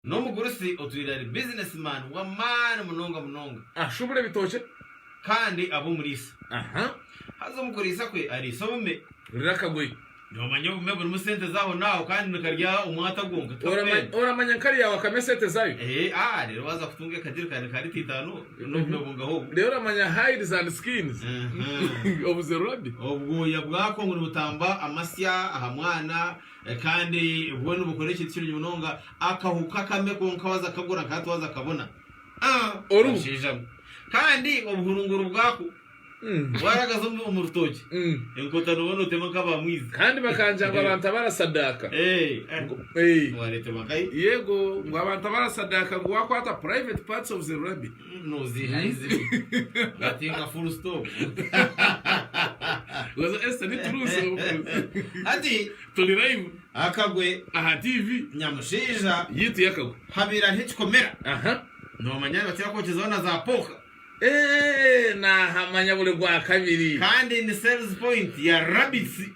N'omugurusi otwire ari bizinesimaani w'amaani munonga munonga. Ashubura ebitookye. Kandi aba omuriisa. Aha. Haza omu kuriisa kwe ariisa obume. Hurira akagoye. Noomanya obume burimu sente z'ahonaaho kandi nikarya omwata gwonka, tikakuhenda. Oramanya nka rya wakame esente zaayo. Ee, aa, reero waaza kutunga ekajerikaani ka lita itaano n'obume bungaha obwo? Reero oramanya hides and skins obu zirura di? Obwoya bwako ngu nibutamba amasya aha mwana, Kandi bwo nibukora ekintu kirungi munonga, akahu kakame konka waza kagura nka hati waza kabona. Aa Oru. Abashaija mwe. Kandi obuhurunguru bwako bwaragaza omu omu rutookye, Mm. enkota nooba nootema nk'aba mwizi. Kandi bakangya ngu abantu abarasadaaka. Ee, eh, Ngu- Ee. wareeterwa nkahi? Yego, ngu abantu abarasadaaka ngu waakwata private parts of the rabbit. Noziiha eizibi ngatinga full stop. Weza Esther ni turuusi omu kurusi. Hati Turi live akagwe aha TV nyamushaija yitu yakagwe. habaire hariho ekikomera Aha. nomanya nibakira kwokyezaho na za poka Eeeeh nahamanya buri rwakabiri. kandi ni sales point ya rabbits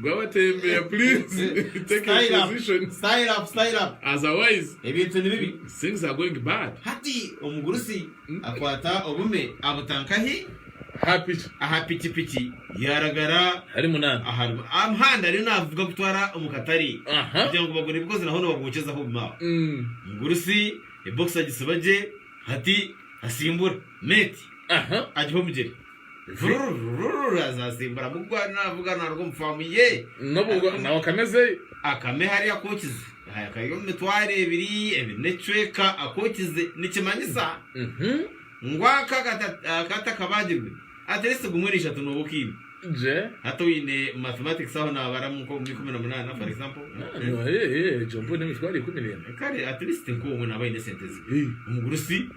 Gwabatembera please take your Style up. position. Style up, style up. Otherwise Ebintu ni bibi. things are going bad. Hati omugurusi akwata obume abuta nkahi? Happy. Aha pikipiki yaaragara Ari munani. aha ru- aha muhanda ariyo naavuga kutwara omu katare Aha. kugira ngu bagure ebikoziranaho nibabwokyezaho obume aho. Mm. Omugurusi ebokisi agisiba gye hati asimbura. Mate Aha. agiha omugyere. Rururururu aza asimbura mugu ariyo naavuga naaruga omu faamu ye. N'obu Ariko- nawe akamezeyo. Akame hariya akookize. Haya kari omu mitwaro ebiri, ebiri n'ekicweka akookize. Nikimanyisa Mhm. ngu aka akata- akata kabagirwe at least gumwe na ishatu nooba okiine. Gye. Hati oine mathematics aho naabaramu nk'omu ikumi na munaana for example. Egyo mbwenu emitwaro ikumi n'ena. Kare at least nk'omwe naaba aine esente ze. Ei. Omugurusi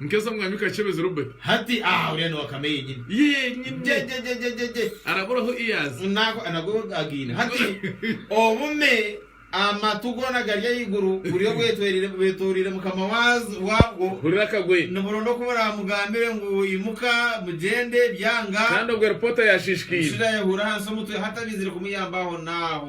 Nkesa mwami kachebezi Robert. Hati aa uriya ni wa kame yenyini. Yenyini. Jejejejejejej. Arabura ahu iyaza. Nako nago againe. Hati obume amatu gona gari ahaiguru buryo bwetwerire bwetoreire mukama wazo wabwo. Hurira akagoye. Niburonda oku buramugambire ngu imuka mugyende byanga. Kandi obwe reporter yashishikaire. Omushaija yahura ahansi omutwe hatabaizire kumuyamba aho naho.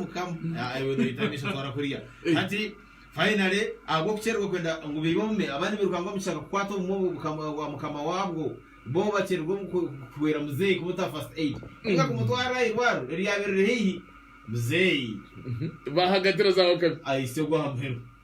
Mukama, ah, iwe noyita amaisho twara kuriya. Hati, finally, ahabw'okukyererwa kwenda ngu biibe obume, abandi birukanga omu kishaka kukwata obumwe obwo bukama- bwa mukama waabwo, bo bakyererwa omu ku- ku- kuhwera muzeeyi kumuta first aid, ninga kumutwara aha irwariro eryabaire riri haihi. Muzeeyi Bahagatira za wakabi. aitsirwe aha muheru.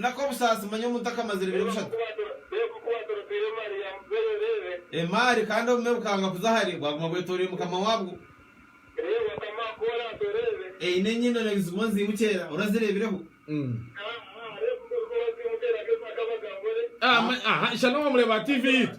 N'ak'obusaasi, manya omuntu akamazire ebiro bishatu. Emaari, kandi obume bukanga kuza ahari, bwaguma bwetoroire mukama wabwo. Eine enyindo n'ebizimu nzimu kyeera, orazireebireho? Aha, aha, ishana owamureeba aha TV yitu.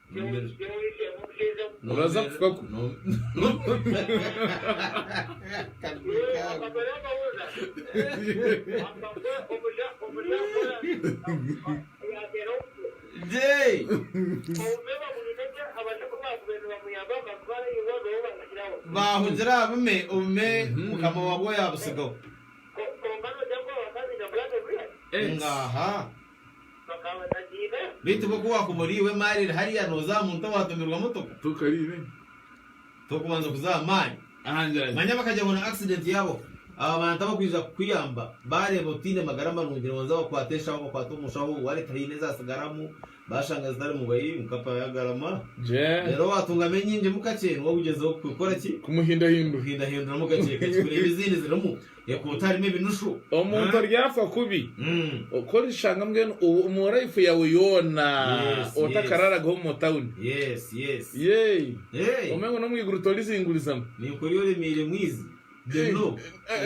Nobaasa kufa ku. Baahungira aha bume, obume mukama waabwo yaabutsigaho. Ngaaha! Beitu bo ku wakuba ori iwe emari eri hariya noza aha muntu owatumirwa motoko tokubanza kuza aha mari. Manya bakagira ngu na accident yabo aba bantu abakwija kukuyamba bareba otine magara marungi nibanza bakwata eshaho bakwata omushaho wallet haine ezasigaramu bashanga zitarimu bayi mukapa yagarama rero watungamu enyingimu kakye niwe ogugyezeho kukoraki kumuhindahinduramu kakye kakye kureba ezindi zirimu. Ekuuta harimu ebinushu. Omuntu oryafa kubi, ku orishanga mbwenu omu life yaawe yoona otakararagaho omu motawuni, yee, ome ngu n'omu iguru torizingurizamu. Ninkureeba oremeire mwizi.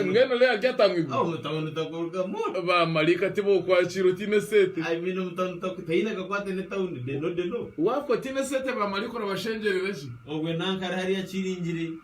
Mbwenu Leah aryata omu iguru? Omu tawuni otakurugamu. Ba maraika tibokwakiira otaine eseete. I mean omu tawuni otaku, taine akakwate n'etawuni, deno deno. Waafa otaine eseete ba maraika orabashengyerera ki? Obwe nankare hariya kiringire.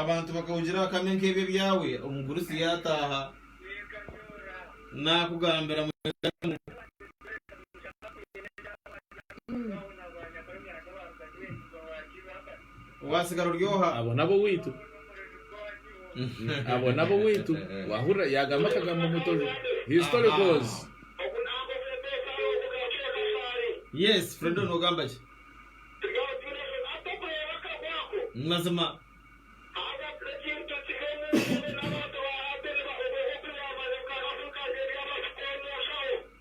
abantu bakahugira akame nk'ebyo ebyawe omugurusi yaataaha naakugambira mu Waasigara ori oha? Abo n'ab'owaitu. Abo n'ab'owaitu. Waahurira yaagamba akagambo ngu tori historicals. Yes, Fredo noogamba gye. Ni mazima.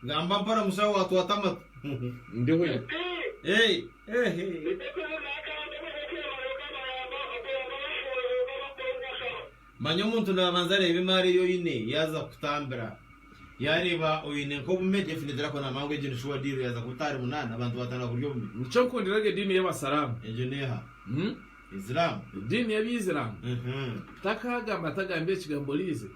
Gamba mpora mushaho waatwata amatu. Ndiho. Ee. Manya omuntu naabanza areeba emaari ei oine yaaza kukutambira. Yaareeba oine nk'obume, definitely akona mangu egyo ni shuwa diiru yaaza kubuta ahari munaana abantu baatandika kurya obume. Nikyo nkundiraga ediini y'Abasaraamu. Egyo n'eha? Islam? Ediini y'Abaisiraamu. Takaagamba tagambire ekigambo Rizik.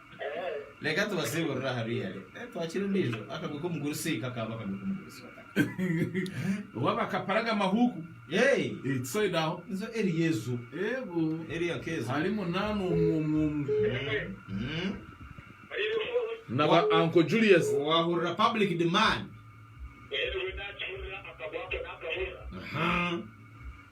Reka tubasiiburire aha ruyari. Eh, twakira ondiijo. Akagwe k'omugurusi kakaaba akagwe k'omugurusi. Oba bakaparaga amahuuku. Hey! Eh, tusoide aho. Nzo eri Yesu. Ego. Eri akezo. Hari munana omu omu omu. Mm. Na ba Uncle Julius. Wahurira public demand. Aha.